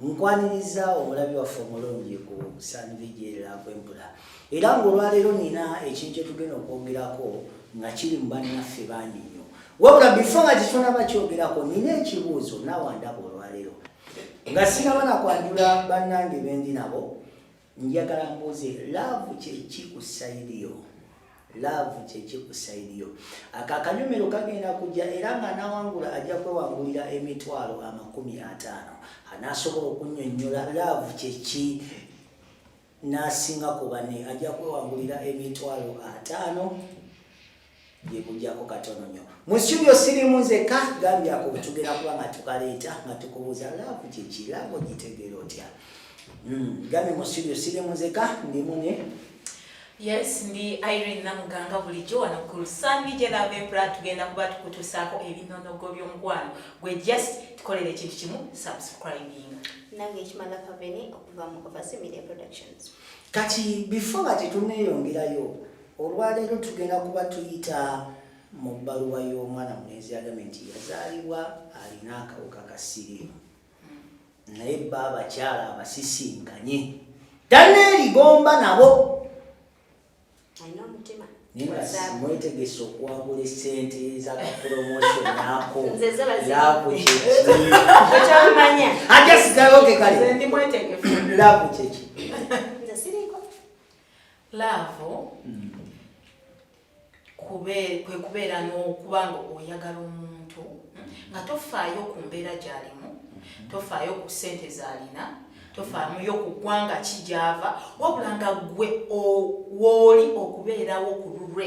Nkwaniriza omulabi waffe omulungi ku sanvijerakwempula era ngaolwaleero nina ekintu kyetugenda okwogerako nga kiri mu bannaffe bangi nnyo wabula bifo nga kitonaba kyogerako nina ekibuuzo naawandaba olwaleero nga sinaba nakwanjula bannange bendi nabo njagala mbuuze laavu kyeki ku sayidi yo laavu kyeki ku sayidi yo ako akanyumiro kagenda kujja era nga anawangula ajja kwewangulira emitwalo amakumi ataano anaasobola okunyonyola laavu kyeki n'asinga ku bane ajja kwewangulira emitwalo ataano byebujako katono nyo mu studio sirimu nzeka gambye ako tugenda kuba nga tukaleeta nga tukubuuza laavu kyeki laavu ogitegeera otya hmm, gambye mu studio sirimu nzeka ndimu ne yes ndi irene namuganga bulijjo wano ku lusambi gye laavu empula tugenda kuba tukutusaako ebinonogo by'omukwano gwe just tukolera ekintu kimu subscribing nange ekimala kaveni okuva mu ovasi media productions kati before nga tetuneeyongerayo Olwaleero tugenda kuba tuyita mu bbaluwa y'omwana mulenzi agambye nti yazaalibwa alina akawuka ka siriimu naye bba abakyala abasisinkanye daneeri gomba nabo mwetegese okwagula esente zakapromotion ako lakukyekiyakugekale laku kyeki laavu mm. kwe kubeera n'okuba nga oyagala omuntu nga tofaayo ku mbeera gy'alimu mm-hmm. tofaayo ku ssente z'alina tofaamuyo ku ggwanga ki gy'ava wabula nga ggwe wooli okubeerawo ku lulwe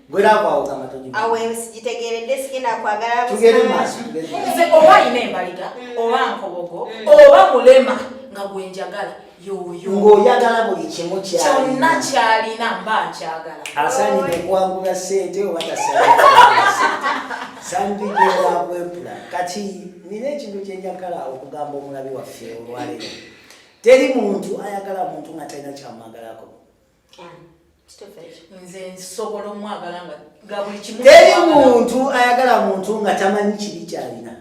oba alina embaliga mm. oba nkobogo mm. oba mulema nga gwenjagala ng'oyagala buli kimu kyonna kyalina mba nkyagala asaanidde okuwangula sente oba tasaaniddeakwepula kati nina ekintu kyenjagala okugamba omulabi waffe olwaleero teri muntu ayagala muntu nga talina kyamwagalako nze nsobola omwagala nga nga buli kimu teri muntu ayagala muntu nga tamanyi kibi kyalina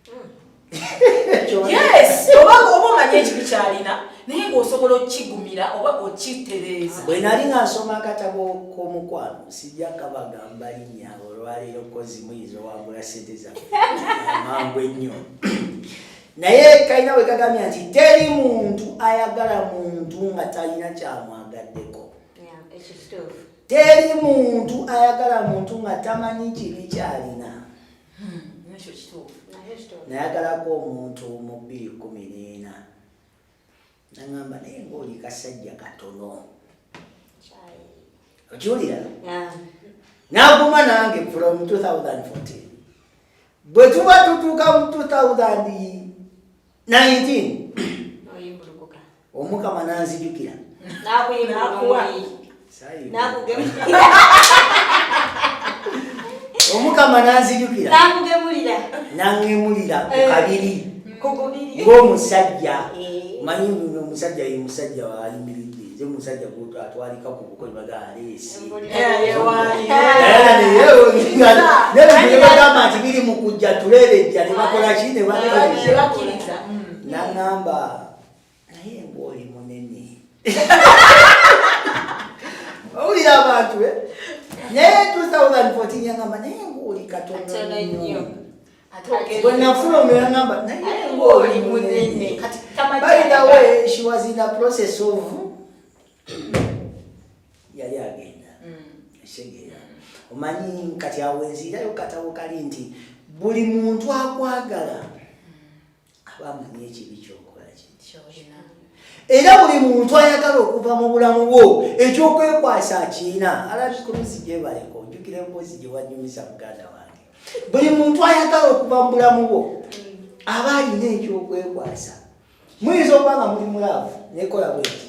hmm. yes oba oba omanyi ekibi kyalina naye ngaosobola okukigumira oba okitereeza bwe nali nga nsoma akatabo k'omukwano sijja kabagamba linya olwaleero kozi muyinza owangula sente zamangu ennyo naye kalina bwe kagambye nti teri muntu ayagala muntu nga talina kyamwagaddeko teri muntu ayagala muntu nga tamanyi kibi kyalina hmm, nayagalako omuntu mu bbiri kumi n'ena nangamba naye ngaoli kasajja katono okiwulira naguma nange from 2014 bwe tuba tutuuka mu 2019 omukama nanzijukira omukama nanzijukira nakugemulira nangemulira ku eh. kabiri ng'omusajja eh. manyi nguno omusajja ye musajja ayimiridde nze musajja gutu atwalika ku buko nebagaaleesibagamba nti biri mu kujja tuleerejja ne bakola ki ne bakiriza nangamba naye mbu oli munene owulira abantu eh? naye 2014 yangamba naye mbu oli katono nnyo bwenafuna omera ngamba naye mbu oli munene by the way she was in the process of yali agenda esegeera mm. omanyi kati awo enziirayo katabo kali nti buli muntu akwagala aba amanyi ekibi kyokola kyolina era buli muntu ayagala okuva mu bulamu bwo ekyokwekwasa akiina alabi kuluzi gyebaleka ojukira empozi gyewanyumiza muganda wange buli muntu ayagala okuva mu bulamu bwo aba alina ekyokwekwasa muyinza okuba nga muli mulaavu nekola bweti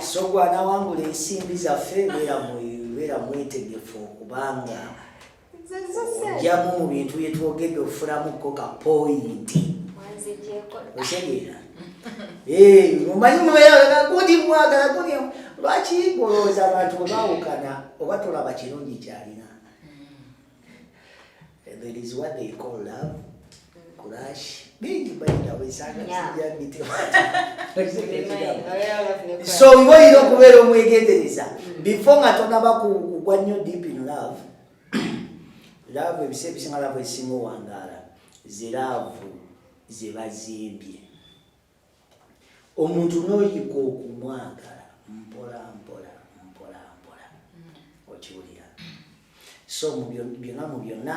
so gwanawangula ensimbi zaffe beera mwetegefu okubanga ojamu mu bintu byetwogedde okufulamuko ka poyinti otegeera omanyi mubeeragundi mwagala gundi lwaki golowooza abantu bwebawukana oba tolaba kirungi kyalina There is what they call love, crush. Bingi by the way, sana sija mitima. So we want you to kubera omwegendereza. Mm. Before nga tonaba kugwa nnyo deep in love. Love ebise ebisinga love esinga owangaala. Ziraavu zebazimbye. omuntu noyiga okumwagala mpola mpola mpola mpola okiwulira so byona mu byonna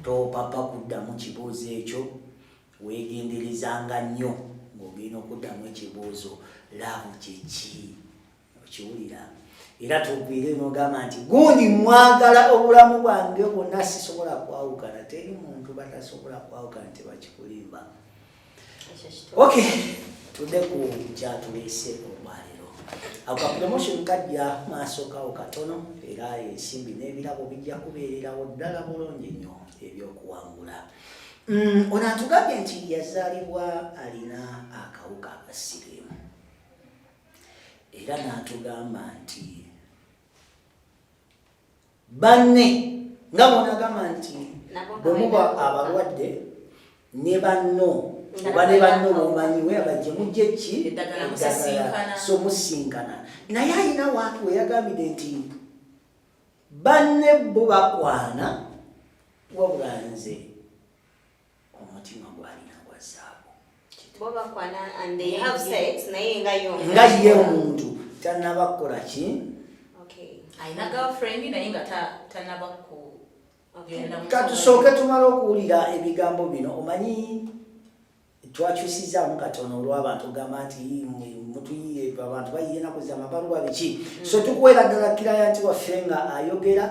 topapa kuddamu kibuuzo ekyo wegenderezanga nnyo ng'ogenda okuddamu ekibuuzo laavu kyeki okiwulira era tugwire nogamba nti gundi mwagala obulamu bwange bwonna sisobola kwawukana teri muntu batasobola kwawukana tebakikulimba ok tudde ku kyatuleese olwaliro akapromotion kajja maaso kawo katono era ensimbi n'ebirabo bijja kubeererawo ddala bulungi nnyo ebyokuwangula mm, ono atugambye nti yazaalibwa alina akawuka akasirimu era n'atugamba nti banne nga bwonagamba nti bwemuba abalwadde ne banno oba ne banno bomanyi weyaba gye mujja ekki eddagala so musinkana naye alina waatu weyagambide nti banne bo bakwana wabula nze omutima gwalina gwa zaabu nga ye omuntu tanaba kukola ki katusooke tumala okuwulira ebigambo bino omanyi twakyusizaamu katono olwabantu ogamba nti mutuyiye abantu bayiye enaku zamabaluwa biki mm. so tukuwera ddala kiraya nti waffe nga ayogera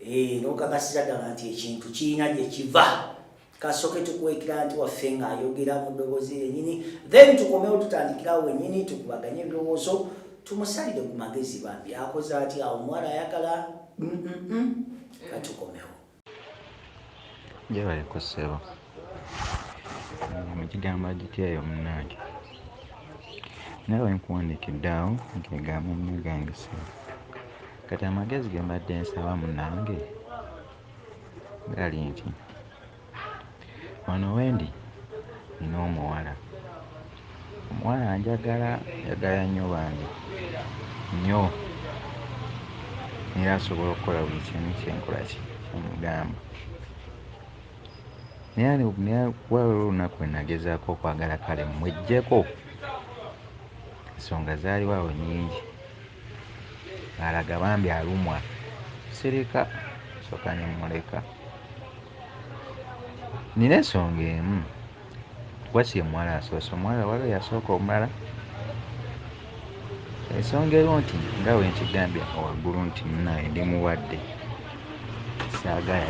Eee, eh, nokakasira dala nti ekintu kiina gye kiva. Kasoke tukwekira nti waffe nga ayogera mu dobozi yenyini. Then tukomewo tutandikira wenyini tukubaganye birowozo. Tumusalide ku magezi bambi. Akoze ati awo mwara yakala. Mm -mm -mm. Katukomewo. Jebale kusebo. mukigamba gitya eyo munange naye wenkuwandikidde awo nkegamba munagange sebo kati amagezi gembadde nsaba munange gali nti wano wendi nina omuwala omuwala anjagala njagala nyo bambi nyo era asobola okukola buli kimu kyenkola kyemugamba. naye waliwo olunaku wenagezaako okwagala kale mwejjeko ensonga zaaliwo awo nyingi alaga bambi alumwa sirika soka nemuleka nina ensonga emu What's your mwala asoose omwala waliwo yasooka omulala ensonga eriwo nti nga wenkigambye waggulu nti munaye ndi mulwadde saagala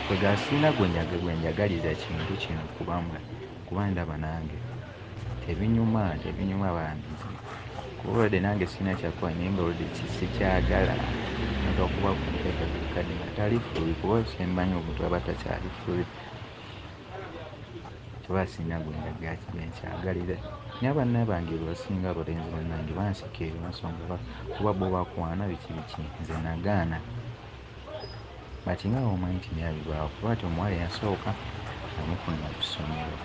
kwegasiina gwenyaga gwenjagaliza kintu kino kubamwe kuba ndaba nange tebinyuma tebinyuma bambi kubaolwadde nange sina kyakuba naye nga olwadde kisikyagala nti okuba kumpeka buli kadde nga tali fuli kuba osembanyi omuntu aba takyali fuli kuba asinga gwe ndaga gwe nkyagalira naye abanna bange bebasinga abalenzi bannange banseka eyo ensonga kuba bo bakwana biki biki nze nagaana but nga bwomanyi nti naye abibaawo kuba ati omuwala eyasooka namufunira ku ssomero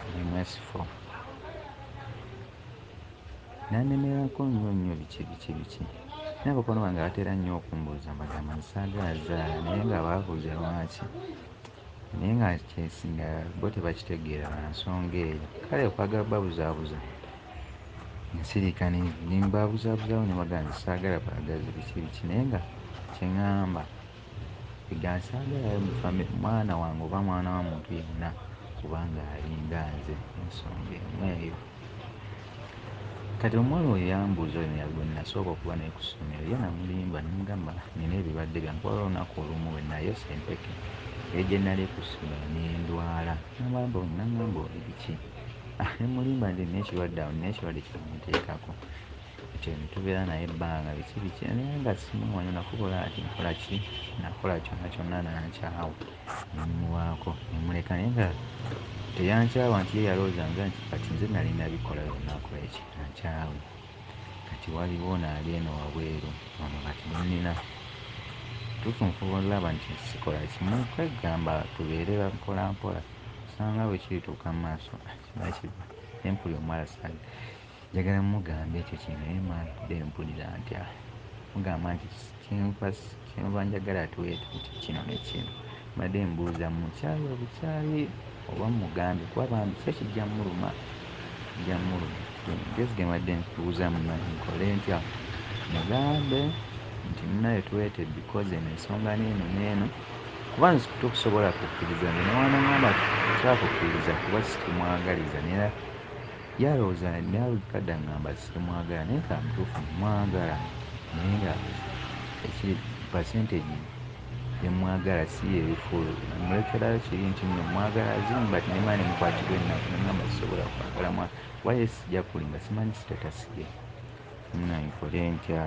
ndi mwesifo nanemerako nnyo nnyo biki biki biki naye abakwano bange batera nnyo okumbuuza mbagamba nti saagala zaala naye nga babuuza lwaki naye nga kyesinga bo tebakitegeera lwa nsonga eyo kale okwagala babuzaabuza nsirika nimbabuzaabuzaawo ne bagamba nti saagala bwagazi biki biki naye nga kye ŋŋamba ega nsaagalayo mu famire mwana wange oba mwana wa muntu yenna kubanga alinga nze ensonga emu eyo Kati omuwala oyo yambuuza olunyiriri gwe nnasooka okuba naye ku ssomero ye namulimba ne mugamba nnina ebibadde byange kuba waliwo olunaku olumu lwe nayosa empeke eri gye nnali ku ssomero ne ndwala n'ambalamba olwo n'angamba oli biki ne mmulimba nti nnina ekirwadde awo nnina ekirwadde kye bamuteekako. Kati ono tubeera naye ebbanga biki biki naye nga simumanyi nakubula nti nkola ki nakola kyonna kyonna n'ankyawa ne mmuwaako ne mmuleka naye nga teyankyawa nti ye yalowoozanga nti kati nze nnali nabikola byonna akole ki ankyawe. Kati waliwo ono ali eno wabweru ono kati gwe nnina kituufu nfuba olaba nti sikola kimu kweggamba tubeere ba mpolampola kusanga bwe kirituuka mu maaso kiba kibi naye mpulira omuwala saagala. Njagala mmugambe ekyo kye naye mmanvude mpulira ntya mmugamba nti kye nfa kye nva njagala tuwe ekintu kino ne kino. Mbadde mbuuza mmukyaye obukyayi oba mmugambe kuba bambi kyo kijja mmuluma, kijja mmuluma. Ge magezi ge mbadde nkubuuzaamu mmange nkole ntya mmugambe nti munnaaye tuweete because eno ensonga n'eno n'eno kuba nze tokusobola kukkiriza nze ne bw'anaŋŋamba nti saakukkiriza kuba sikimwagaliza nera Ye alowooza nalabika dda ngamba simwagala naye nga mutuufu mwagala naye nga ekiri percentage yemwagala siyeeri full mulekerayo kiri nti nno mwagala as in but ne money mukwatirwa ennaku nemugamba sisobola kwagala mwana kuba ye sija kulimba simanyi status ye munange nkole ntya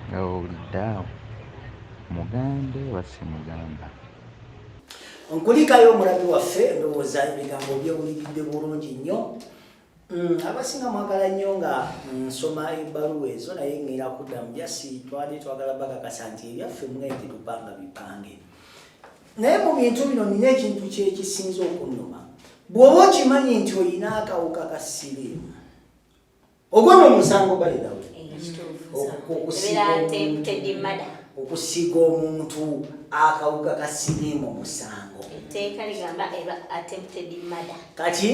nga bwowulidde awo mugambe oba simugamba. nkulikayo omulabi waffe ndowooza ebigambo byewuliridde bulungi nnyo mm, abasinga mwagala nnyo nga nsoma ebbaluwa ezo naye ngera kuddamu jasi twali twagala bakakasa nti ebyaffe mwengi tupanga bipange naye mu bintu bino nina ekintu kyekisinza okunuma bw'oba okimanyi nti olina akawuka ka siriimu ogwo no musango bali dawe okusiga omuntu akawuka ka siriimu musango etteeka ligamba eba attempted murder kati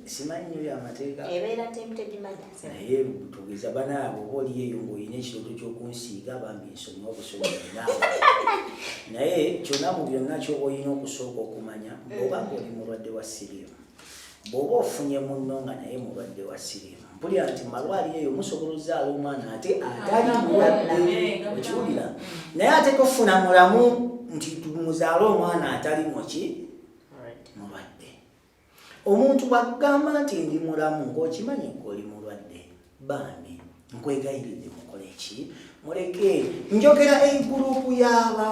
simanyi nyo yamateeka ebeera attempted murder naye tugeza banaabo oba oli eyo ng'olina ekiroto ky'okunsiiga bambi nsoma obusoma naye kyonna mu byonna kyoba olina okusooka okumanya oba ng'oli mulwadde wa siriimu bw'oba ofunye munno nga naye mulwadde wa siriimu mpulira nti malwaliro eyo musobola ozaala omwana ate atali mulwadde okiwulira naye ate tofuna mulamu nti muzaale omwana atali muki mulwadde omuntu bwagamba nti ndi mulamu ng'okimanyi ng'oli mulwadde bambi nkwegayiridde mukole ki muleke njogera egurupu y'aba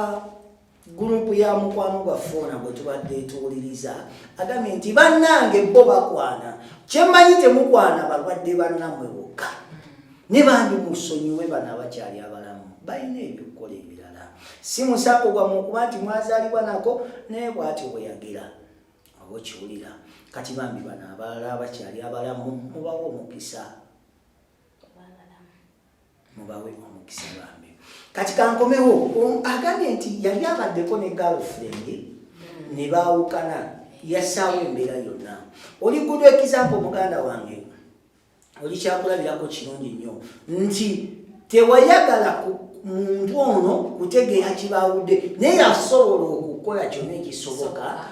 Gurupu ya mukwano gwa foona gwe tubadde tuwuliriza agambye nti bannange bo bakwana kyemmanyi temukwana balwadde bannamwe bokka ne bandi musonyiwe bano abakyali abalamu balina ebyokukola ebirala si musako gwamu okuba nti mwazaalibwa nako naye bwatyo bwe yagira oba okiwulira kati bambi bano abalala abakyali abalamu mubawa omukisa mubawe omukisa bambi kati kankomewo agambye nti yali abaddeko ne girlfriend ne baawukana yasaawo embeera yonna oli gudu ekizampo muganda wange oli kyakulabirako kirungi nnyo nti tewayagala muntu ono kutegeera kibaawudde naye yasobola okukola kyonna ekisoboka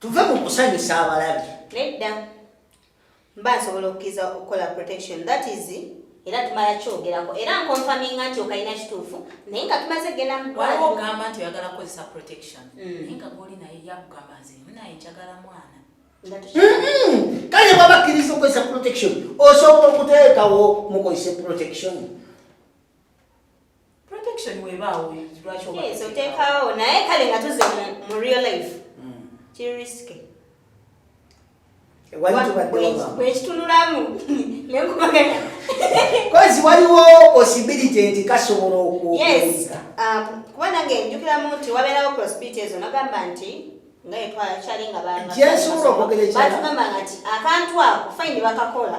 tuve mu kusanyusa abalabi nedda mba nsobola okukiriza okukola protection that is era tumala kyogerako era nkonfaminga nti okalina kituufu naye nga tumaze genda mugwaliwo ogamba nti oyagala kukozesa protection mm. naye nga goli naye yakugamba nze naye njagala mwana mm-hmm. kale bwaba akkiriza okukozesa protection osobola okuteekawo mukozese protection protection webaawo lwaki oteekawo naye kale nga tuze mu real life hmm. kiri risike bwekitunulamu nekubagana kozi waliwo possibility nti kasobola okuuka um, kuba nange njukiramu nti wabeerawo possibility ezo nagamba nti ngaetwakyali nga batugamanga nti akantu ako fayini bakakola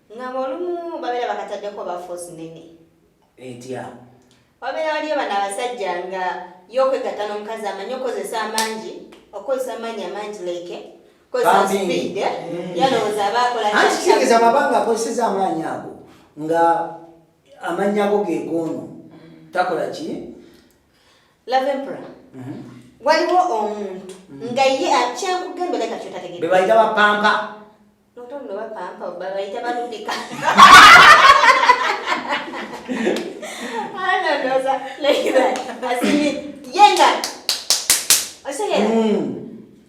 ngamba olumu babeera bakataddeko bafosi nene etya wabeera waliyo bano abasajja nga yokwegatta n'omukazi amanyi okozesa amangi okozesa amaanyi amangi leke eh? mm. yalowooza abaakolakitegeeza babanga akozeseza amaanyi ago nga amanyi ago gegoono takola ki lavempra mhm. waliwo omuntu mm. nga ye akyankugembeleka kyotategebebaita bapampa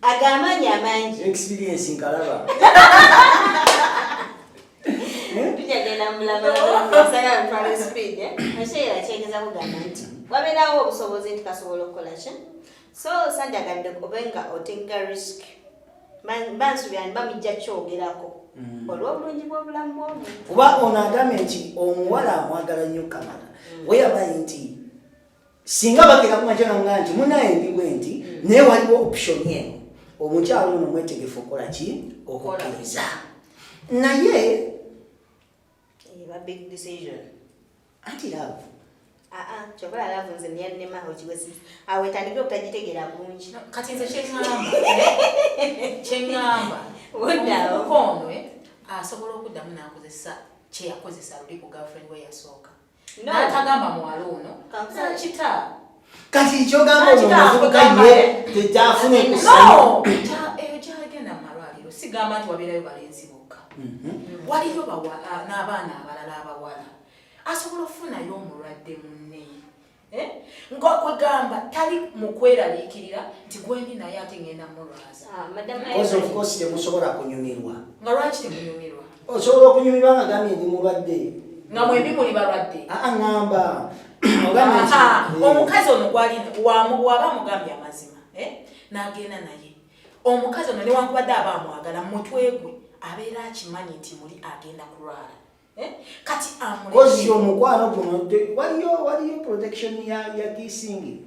agamaanyi amangi experience nkalaba tujagenda mulamasagaaale speed ekyeera eh? kyegeza kugamba nti wabeerawo obusobozi nti kasobola okukola ki so sanjagadde obe nga otegga risk bansubira ni bamijja kyogerako mm. olw'obulungi bw'obulamu bwomu kuba ono agambye nti omuwala amwagala nnyo kamala mm. weyabaye nti singa bagera kumajananga nti munaye ndiwe nti mm. naye waliwo option eno omukyalo ono mwetegefu okukola ki okukkiriza naye eba big decision anti love aa kyova love nze niyannema okiwesi awo etandikire okutagitegera bulungi kati nze kyeŋamba kyeŋamba omuvubuka ono eh, asobola okuddamu n'akozesa kyeyakozesa luli ku girlfriend we yasooka n'atagamba muwala ono kakita kati ekyogamba omuvubuka ye tekyafuna ekyagenda mumalwaliro sigamba nti wabeerayo balenzi bokka mhm. waliyo ah, n'abaana abalala abawala asobola okufunayo omulwadde munne eh? ngakwegamba tali mukweraliikirira nti gwendi naye ate ngenda mulwaza ah, temusobola kunyumirwa nga lwaki temunyumirwa osobola okunyumirwa nga gambye ndi mulwadde nga mwendi muli balwadde aŋamba omukazi ono gwaliwaba mugambye amazima eh? nagenda naye omukazi ono newankubadde aba amwagala mumutwe gwe abeera akimanyi nti muli agenda kulwala eh? kati amuozi omukwano guno waliyo waliyo protection ya kisingi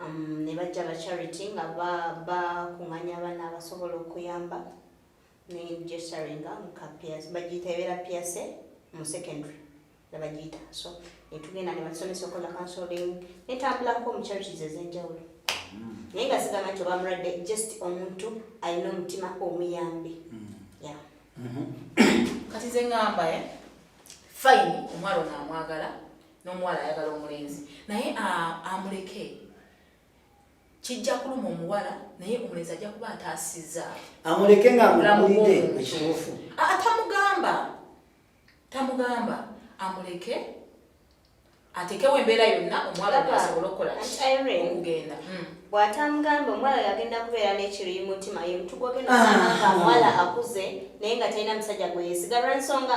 um, ne bajja ba charity nga bakunganya ba abaana abasobola okuyamba negesaringa bagiyita ebeera piase mu secondary nebagiyita so netugenda nebasomesa okola consoling netambulako mu charities ezenjawulo hmm. naye nga sigamba nti obamulwadde just omuntu alina omutima omuyambi hmm. mm-hmm. kati zengamba eh? fine omwana ono amwagala n'omuwala ayagala omulenzi naye amuleke kijja kuluma omuwala naye omulenzi ajja kuba ataasizza amuleke ngaamulamulide ekituufu tamugamba tamugamba amuleke atekewo embeera yonna omuwala asobola okukola okugenda hmm. bw'atamugamba omuwala yagenda kubeera n'ekiri mutima ye mutu gwogenda ah. omuwala akuze naye nga talina musajja gwe yesigalwa ensonga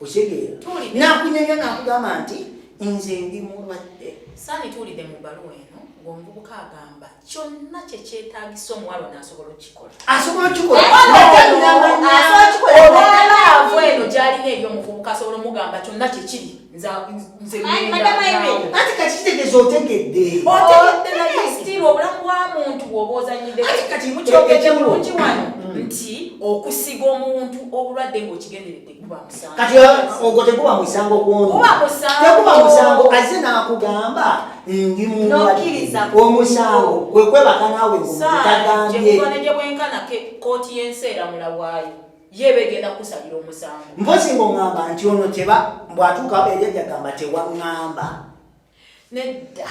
okitegeera nakunyonyo nakugamba nti nze ndi mulwadde saani tuwulidde mu bbaluwa eno ngaomuvubuka agamba kyonna kyekyetagisa omuwalo nasobola okukikola asobola okukikolaolaavu eno gyalina eri omuvubuka asobola omugamba kyonna kyekiri nzekati kakitegeeza otegedde otegedde obulamu bwa muntu bwoba ozanyideekati mukyogekirungi wano nti okusiga omuntu obulwadde ngaokigenderedde kati ogwo teguba musango kwonoteguba musango aze nakugamba ndi muwakiriza omusango kwekwebaka nawe mutagambyeekwenkanakke kooti yensi eramula waayo yebegenda kusalira omusango mpozi ngaongamba nti ono teba mbwatuuka eyajagamba tewaŋamba nedda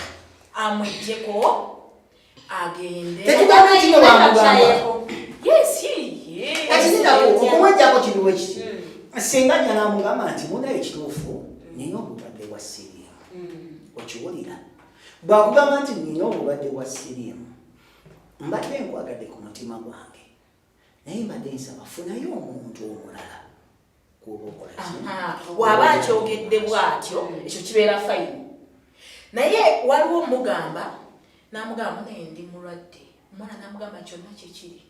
amujjeko okumwejjako kiriwo kiti hmm. singa nyala amugamba nti muna ekituufu hmm. nina obulwadde bwa siriyamu hmm. okiwulira bwakugamba nti nina obulwadde bwa siriyamu mbadde nkwagadde ku mutima gwange naye mbadde nsaba funayo omuntu omulala waba akyogedde bwatyo ekyo kibeera fayini naye waliwo omugamba namugamba naye ndi mulwadde omwana namugamba kyonna kyekiri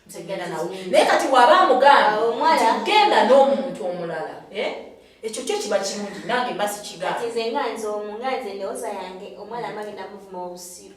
nzegenda nawe naye kati waba amugambagenda n'omuntu omulala eh? ekyo kyo kiba kirungi nange mba sikigaaze nga nze omu nga nze ndowooza yange omwana amage namuvuma obusiru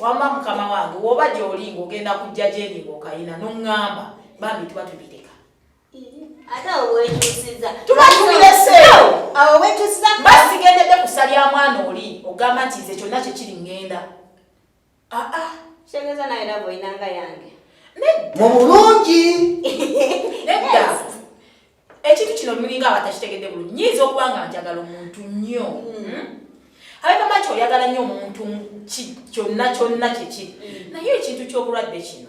wama mukama wange woba gyoli ngogenda kujja gyendi ngaokayina noŋŋamba bambi tuba tubireka tubaasigendedde kusalya mwana oli ogamba nti nze kyonna kyekiri ŋŋenda Ah, ah. Shengeza na ila boy nanga yange. Nedda. Mubulungi. Nedda. Ekintu kino mulinga abatashitegedde bulu. Nyizo kubanga njagala omuntu nnyo. Mm. Hmm? Abeka macho yagala nnyo omuntu ki kyonna kyonna kiki. Mm. Naye ekintu ky'obulwadde kino.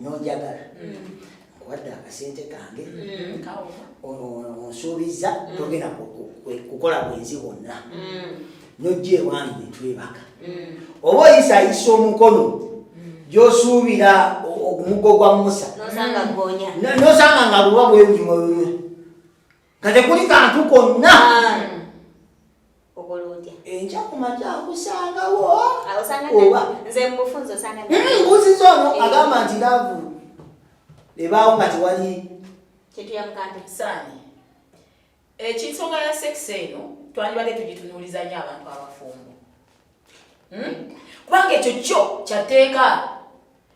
nonjagala nkuwadde mm. akasente kange mm. onsuubiza mm. togenda kukola bwenzi bwonna nojja ewange netwebaka oba oyisayisa omukono gyosuubira omugo gwa musa nosanga nga luba bwewulimuyo nga tekuli kantu konna enkya ku makya akusangawo mbuziza ono eh. agamba nti laavu ebaawo nga tewali ekinsonga eh, ya sekisi eno twandibadde tugitunuuliza nyo abantu abafumbo hmm? kubanga ekyo kyo kyateeka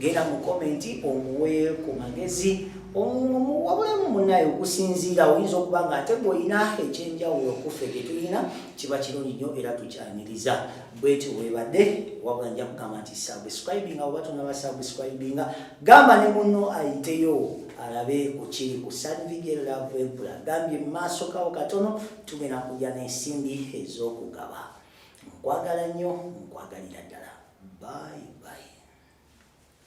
genda mu komenti omuwe ku magezi wabulemu munaye okusinziira oyinza okuba nga ate gweolina ekyenjawulo kuffe gyetulina kiba kirungi nnyo era tukyaniriza bwetyo webadde wabula nja kugamba nti subscribinga oba tonaba subscribinga gamba ne muno ayiteyo alabe kukiri ku sanvigellavempula gambye mumaaso kawo katono tugenda kujja n'ensimbi ez'okugaba Nkwagala nnyo, nkwagalira ddala. Bye bye.